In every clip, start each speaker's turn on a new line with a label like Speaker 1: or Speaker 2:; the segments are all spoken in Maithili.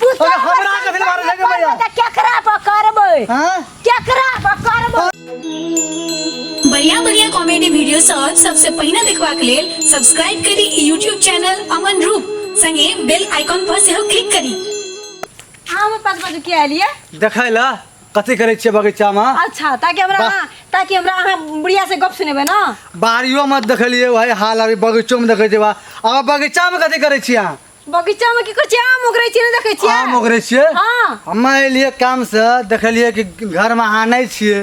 Speaker 1: तू अरे सब हमरा के फिर मारे लगे करबे
Speaker 2: भैया। त केकरा पर करबे हां केकरा
Speaker 1: पर
Speaker 2: करबे बढ़िया
Speaker 3: बढ़िया कॉमेडी वीडियो सब सबसे पहिने देखबाक लेल सब्सक्राइब करी यूट्यूब चैनल अमन रूप संगे बेल आइकॉन पर सेहो क्लिक करी हम
Speaker 4: पास बजे के आलिए देखै ल
Speaker 1: कथी करै छियै बगीचा में अच्छा ताकि हमरा वाह।
Speaker 4: अहाँ- ताकि हमरा अहाँ बुढ़िया से गप सुनेबे ना बाड़ियो में
Speaker 1: देखलिए भाई हाल अभी बगीचो में देखै छियै बा अब बगीचा में कथी करै छियै अहाँ बगीचा में की कर छियै
Speaker 4: आम ओगरै छियै ने देखै छियै आम ओगरै छियै
Speaker 1: हां हम
Speaker 4: एलियै काम
Speaker 1: से देखलियै कि घर में अहाँ नहीं छियै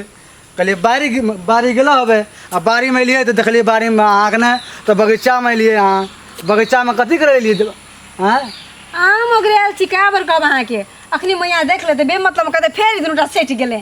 Speaker 1: कहलियै बाड़ी बाड़ी गेलो हबे आ बाड़ी में एलियै तऽ देखलियै बाड़ी में अहाँ के नहि तऽ बगीचा में एलियै अहाँ बगीचा में कथी करै एलियै आँय आम
Speaker 4: ओगरै आयल छी का बर कहब अहाँ के अखनी मैया देख लेते बे मतलब कहते फेर दुनूटा सेट गेलै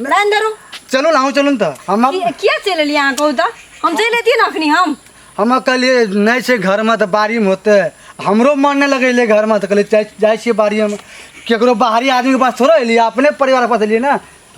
Speaker 4: लाइन धरू चलू ना हम
Speaker 1: चलू ना तऽ हम कि- किया चलि एलियै अहाँ
Speaker 4: कहू तऽ हम चलि अयतियै ने अखनी हम हम कहलियै
Speaker 1: नहि छै घरमे तऽ बाड़ीमे होतै हमरो मन नहि लगैले घरमे तऽ कहलियै जाइ- जाइ छियै बाड़ीमे केकरो बाहरी आदमीके पास थोड़े एलियै अपने परिवारके पास एलियै ने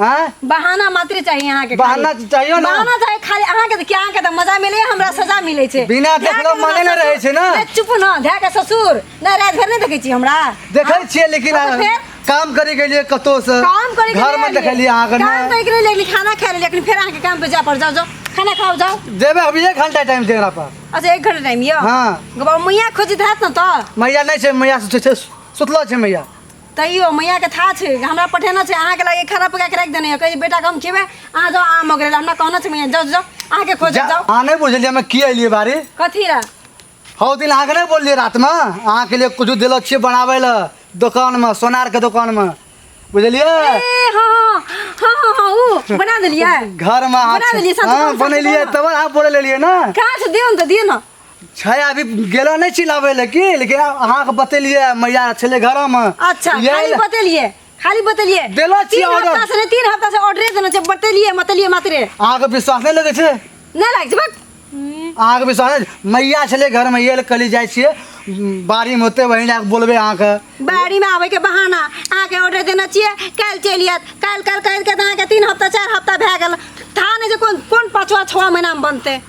Speaker 1: आँय बहाना मात्र
Speaker 4: चाहिए अहाँ के बहाना खाली। चाहिए ना। बहाना
Speaker 1: चाहिए खाली अहाँ के
Speaker 4: क्या अहाँ के तऽ मजा मिले हमरा सजा मिले छै बिना देखलो ध्यान के मने ना नहि
Speaker 1: रहै छै ना। ससुर। चुप न ध्यान के
Speaker 4: ससुर ना रात भर नहीं देखे छी हमरा देखै छियै लेकिन
Speaker 1: हाँ, तो फिर? काम करे के लिए कतौ से काम करे के घर में लिए देखलिए अहाँ के काम करे के लिए लेकिन खाना
Speaker 4: खाए लेकिन फिर अहाँ के काम पे जा पर जाओ जाओ खाना खाओ जाओ देबे हम एक घंटा
Speaker 1: टाइम देरा पर अच्छा एक घंटा टाइम यो
Speaker 4: हाँ। गबा मैया
Speaker 1: खोजित
Speaker 4: हैत न त मैया नहीं छै मैया सुतै
Speaker 1: छै सुतलो छै मैया तैयो मैया
Speaker 4: के था छै हमरा पठेना छै अहाँ के लागे खाना पका के राख देने है कहि बेटा के हम खेबे अहाँ जाओ आम ओगरे हमरा कहना छै मैया जाओ जाओ अहाँ के खोज जा- जाओ अहाँ नहीं बुझलिए हम की
Speaker 1: एलिए बारी कथी ला
Speaker 4: हौ दिन अहाँके
Speaker 1: नहि बोललियै रातिमे अहाँके लिए किछु देलो छियै बनाबै लए दोकानमे सोनारके दोकानमे बुझलियै ए हाँ
Speaker 4: हाँ हाँ हाँ हाँ ओ बना देलियै घरमे अहाँ बना
Speaker 1: देलियै, साँच हाँ, कहू, साँच
Speaker 4: बनेलियै कहू। तब
Speaker 1: अहाँ बोले लेलियै ने कहाँ से दियो ने तऽ दियो
Speaker 4: ने छै अभी
Speaker 1: गेलो नहि छी लाबै लए की लेकिन अहाँके बतेलियै मैया छलै घरमे अच्छा खाली
Speaker 4: बतेलियै खाली बतलिए देलो छी तीन ऑर्डर। हफ्ता से
Speaker 1: नहीं, तीन हफ्ता से ऑर्डर
Speaker 4: देना छै बतलिए मतलिए मात्रे अहाँके विश्वास नहि
Speaker 1: लगै छै नहीं लाग छै बक
Speaker 4: अहाँके विश्वास
Speaker 1: नहि छै? मैया छलै घरमे ये कली जाइ छियै उम, बाड़ीमे होतै वही लए कऽ बोलबै अहाँके बाड़ी में आवे के
Speaker 4: बहाना अहाँ के ऑर्डर देना चाहिए कल चलि आयत कल कल कल के अहाँ के तीन हफ्ता चार हफ्ता भए गेल था नहीं जे कोन कोन पाँचवा छवा महीना में बनते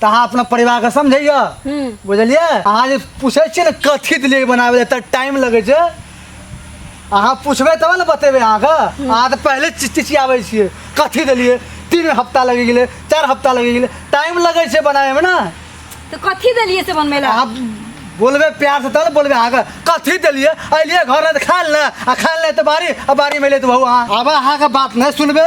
Speaker 1: तऽ अहाँ अपना परिवार के समझैया हम्म। बुझलियै अहाँ जे पूछै छियै ने कथी दिलियै बनाबै लए तऽ टाइम लगै छै अहाँ पूछबै तब ने बतेबै अहाँके अहाँ तऽ पहिले चि- चिचियाबै छियै कथी देलियै तीन हफ्ता लगि गेलै चारि हफ्ता लगि गेलै टाइम लगै छै बनाबैमे ने तो कथी
Speaker 4: दलिए से बनबे ला अहाँ
Speaker 1: बोलबै प्यार से तब ने बोलबै अहाँके कथी देलियै अलियै घर तऽ खायल ने आ खायल नहि तऽ बारी आ बारी मिले तऽ बहु अहाँ अब अहाँके बात नहि सुनबै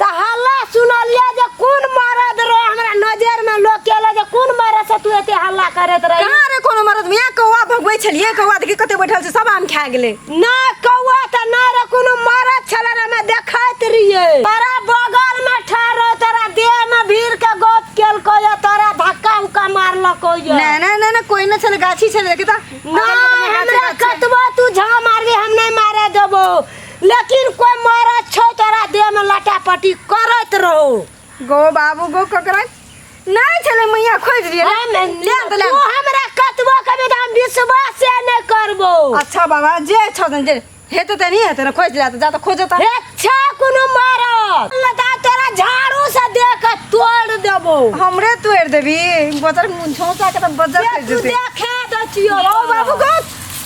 Speaker 2: त
Speaker 4: हल्ला
Speaker 2: सुनलिए जे कोन मरद रहे हमरा नजर में लोग केले जे कोन मरद से तू एते हल्ला करत रही कहाँ रे कोनो मरद मिया
Speaker 4: कौआ भगबै छलिए कौआ देखि कते बैठल छै सब आम खा गेलै ना कौआ
Speaker 2: त ना रे कोनो मरद छले रे हमे देखैत रहिए तोरा बगल में ठहरो तोरा देह में भीड़ के गप केलको या तोरा धक्का उक्का मारलको या ना ना ना ना कोई ना छले
Speaker 4: गाछी छले देखि त ना
Speaker 2: हमरा कतबो तू झा मारबी हम नहीं मारे देबो लेकिन कोई मरद छौ तोरा देह में लटापटी करत रहो गो बाबू
Speaker 4: गो ककरा नहीं चले मैया खोज लिए ना मैं ले तो ले तू हमरा
Speaker 2: कतबो कभी तो हम विश्वास से नहीं करबो अच्छा बाबा जे
Speaker 4: छौ तन जे हेते त नहीं हेते ना खोज ले जा त खोज त हे छा कोनो
Speaker 2: मरद लगा तोरा झाड़ू से देह के तोड़ देबो हमरे तोड़
Speaker 4: देबी बजर मुंछो सा के त बजर ये कर तू देते देखे दचियो
Speaker 2: गो बाबू गो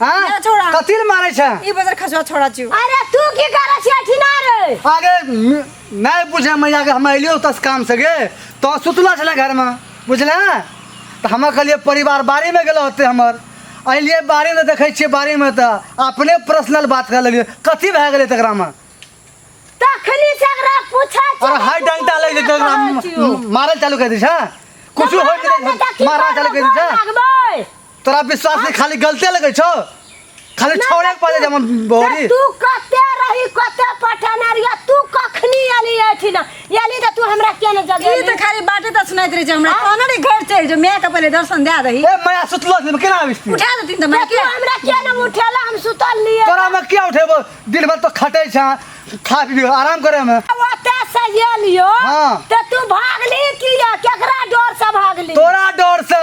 Speaker 1: हां मेरा छोड़ा। कथि
Speaker 4: ले मारै छै ई
Speaker 1: बजर खसवा छोड़ा छियो
Speaker 4: अरे तू की करे
Speaker 2: छियै ठिना रे अरे
Speaker 1: म- नहीं बुझे मैया के हम अलियो तस काम से गे तो सुतला छले घर में बुझले तो हम कहलिए परिवार बाड़ी में गेलो होते हमर अलिए बाड़ी में देखे छिए बाड़ी में तो अपने पर्सनल बात कर लेलिए कथी भए गेलै तकरा में तखनी
Speaker 2: से एकरा पूछै और हाई डंटा ले
Speaker 1: जेते ओकरा म- मारल चालू कर दी छै कुछ हो जेते मारना चालू कर दी छै तोरा विश्वास नहीं खाली गलते लगे छो खाली छोड़े के पड़े जमन बोरी तू कते
Speaker 2: रही कते पठाना रिया तू कखनी आली एठी ना याली त तू हमरा के न जगे ई त खाली बाटे त
Speaker 4: सुनाइत रहे हमरा कोना रे घर चल जो मैं कपले दर्शन दे दही ए मैं सुतलो से केना
Speaker 1: आबिस उठा दे तीन त मैं के
Speaker 4: हमरा के न उठेला
Speaker 2: हम सुतल लिए तोरा में क्या उठेबो
Speaker 1: दिन भर तो खटे छ खा पी आराम करे में ओते से ये
Speaker 2: लियो हां त तू
Speaker 1: भागली
Speaker 2: किया केकरा डर से भागली तोरा डर से